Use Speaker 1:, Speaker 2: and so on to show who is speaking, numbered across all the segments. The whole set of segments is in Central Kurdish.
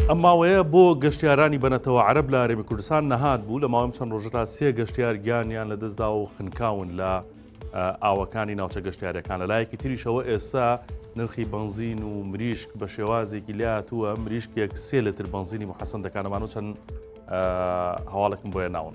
Speaker 1: ئەم ماوەیە بۆ گەشتیارانی بەنەتەوە عەرەب لە هەرێمی کوردستان نەهات بوو لە ماوەم چەند ڕۆژەدا سێ گەشتیار گیانیان لە دەستدا و خنکاون لە ئاوەکانی ناوچە گەشتیارەکان لە لایەکی تریشەوە ئێستا نرخی بنزین و مریشک بە شێوازێکی لاتووە مریشکێک سێ لەتر بنزینی محەسەن دەکانەمان و چەند هەواڵێکم بۆیە ناون.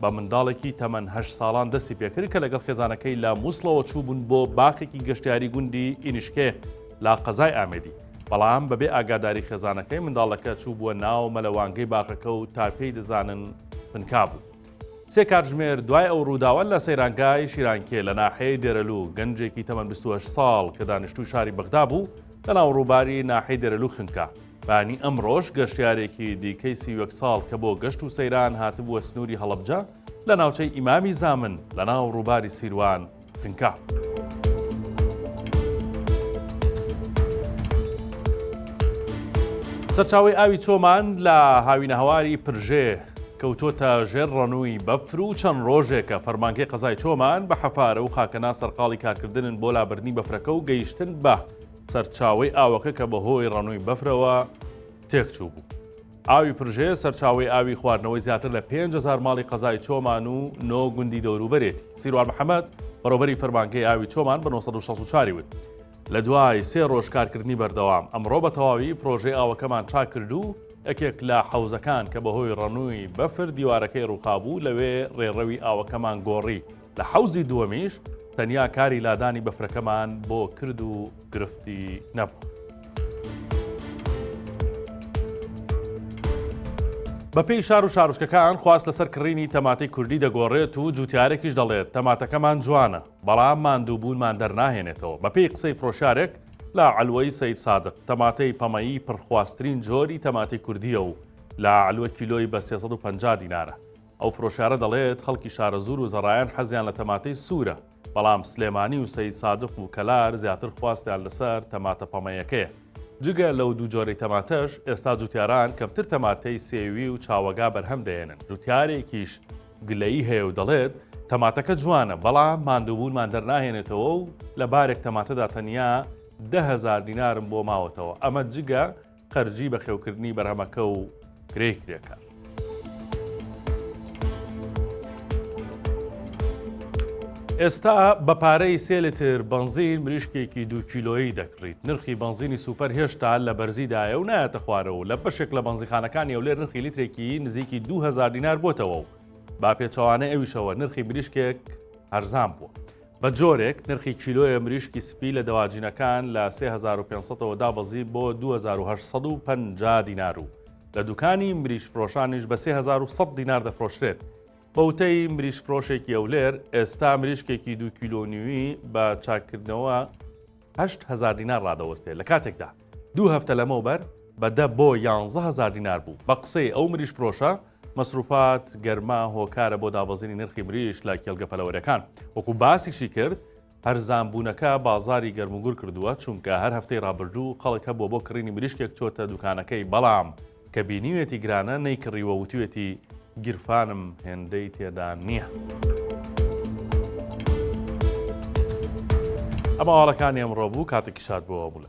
Speaker 1: بە منداڵێکی تەمەن هەشت ساڵان دەستی پێکرد کە لەگەڵ خێزانەکەی لە موسڵەوە چووبوون بۆ باخێکی گەشتیاری گوندی ئینیشکێ لە قەزای ئامێدی بەڵام بەبێ ئاگاداری خێزانەکەی منداڵەکە چوو بووە ناو مەلەوانگەی باخەکە و تا پێی دەزانن پنکا بوو. سێ کاتژمێر دوای ئەو ڕووداوە لە سەیرانگای شیرانکێ لە ناحەیە دێرەلو گەنجێکی تەمەن 28 ساڵ کە دانیشتوی شاری بەغدا بوو لە ناو ڕووباری ناحەی دێرەلو خنکا بەیانی ئەمڕۆش گەشتیارێکی دیکەی سی و یەک ساڵ کە بۆ گەشت و سەیران هاتبووە سنووری هەڵەبجە لە ناوچەی ئیمامی زامن لە ناو ڕووباری سیروان پنکا. سەرچاوەی ئاوی چۆمان لە هاوینەهواری پرژێ کەوتۆتە ژێر ڕەنووی بەفر و چەند ڕۆژێکە فەرمانگەی قەزای چۆمان بە حەفارە و خاکەنا سەرقاڵی کارکردنن بۆ لابردنی بەفرەکە و گەیشتن بە سەرچاوەی ئاوەکە کە بەهۆی ڕەنووی بەفرەوە تێکچووبوو. ئاوی پرژێ سەرچاوەی ئاوی خواردنەوەی زیاتر لە پێنج هەزار ماڵی قەزای چۆمان و نۆ گوندی دەوروبەرێتی. سیروان محەمەد، بەڕێوبەری فەرمانگەی ئاوی چۆمان بە نۆ سەد و شەست و چوار ی وت، لە دوای سێ ڕۆژ کارکردنی بەردەوام، ئەمڕۆ بە تەواوی پرۆژەی ئاوەکەمان چاک کرد و یەکێک لە حەوزەکان کە بەهۆی ڕەنووی بەفر دیوارەکەی ڕووخابوو لەوێ ڕێڕەوی ئاوەکەمان گۆڕی. لە حەوزی دووەمیش تەنیا کاری لادانی بەفرەکەمان بۆ کرد و گرفتی نەبوو. بەپێی شار و شارچکەکان خواست لەسەر کڕینی تەماتەی کوردی دەگۆڕێت و جوتیارێکیش دەڵێت تەماتەکەمان جوانە بەڵام ماندووبوونمان دەرناهێنێتەوە بەپێی قسەی فرۆشارێک لە عەلوەی سید سادق تەماتەی پەمەیی پڕخواستترین جۆری تەماتی کوردیە و لە عەلوە کیلۆی بە 350 دینارە ئەو فرۆشیارە دەڵێت، خەڵکی شارەزوور و زەڕایەن حەزیان لە تەماتەی سوورە، بەڵام سلێمانی و سەیدسادق و کەلار زیاتر خواستیان لەسەر تەماتە پەمەیەکەیە. جگە لەو دوو جۆرەی تەماتەش، ئێستا جووتیاران کەمتر تەماتەی سێوی و چاوەگا بەرهەم دەهێنن، جووتیارێکیش گلەیی هەیە و دەڵێت، تەماتەکە جوانە، بەڵام ماندووبوونمان دەرناهێنێتەوە و لە بارێک تەماتەدا تەنیا دە هەزار دینارم بۆ ماوەتەوە، ئەمە جگە خەرجی بەخێوکردنی بەرهەمەکە و کرێی کرێکار. ئێستا بە پارەی سێ لتر بەنزین مریشکێکی دوو کیلۆیی دەکڕیت نرخی بەنزینی سوپەر هێشتا لە بەرزیدایە و نایەتە خوارەوە لە بەشێک لە بەنزیخانەکانی ئەولێر نرخی لیترێکی نزیکی 2000 دینار بۆتەوە و با پێچەوانە ئەویشەوە نرخی مریشکێک هەرزان بووە بە جۆرێک نرخی کیلۆێ مریشکی سپی لە دەواجینەکان لە سێ هەزار و پێنج سەدەوە دابەزی بۆ دوو هەزار و هەشت سەد و پەنجا دینار و لە دوکانی مریشکفرۆشانیش بە سێ هەزار و سەد دینار دەفرۆشرێت. بە وتەی مریشکفرۆشێکی هەولێر، ئێستا مریشکێکی دوو کیلۆ و نیوی بە چاککردنەوە، هەشت هەزار دینار ڕادەوەستێ لە کاتێکدا دوو هەفتە لەمەوبەر بە دە بۆ یانزە هەزار دینار بوو بە قسەی ئەو مریش فرۆشە مەسروفات گەرما هۆکارە بۆ دابەزینی نرخی مریش لە کێڵگە پەلەوەرەکان وەکو باسیشی کرد هەرزانبوونەکە بازاری گەرموگور کردووە چونکە هەر هەفتەی ڕابردوو خەڵک هەبووە بۆ کڕینی مریشکێک چۆتە دوکانەکەی بەڵام کە بینیوێتی گرانە نەیکڕیوە وتوێتی گیرفانم هێندەی تێدا نییە. ئەمە ئاڵەکانی ئەمڕۆ بوو کاتێکی شاد بۆەوە بوو لە.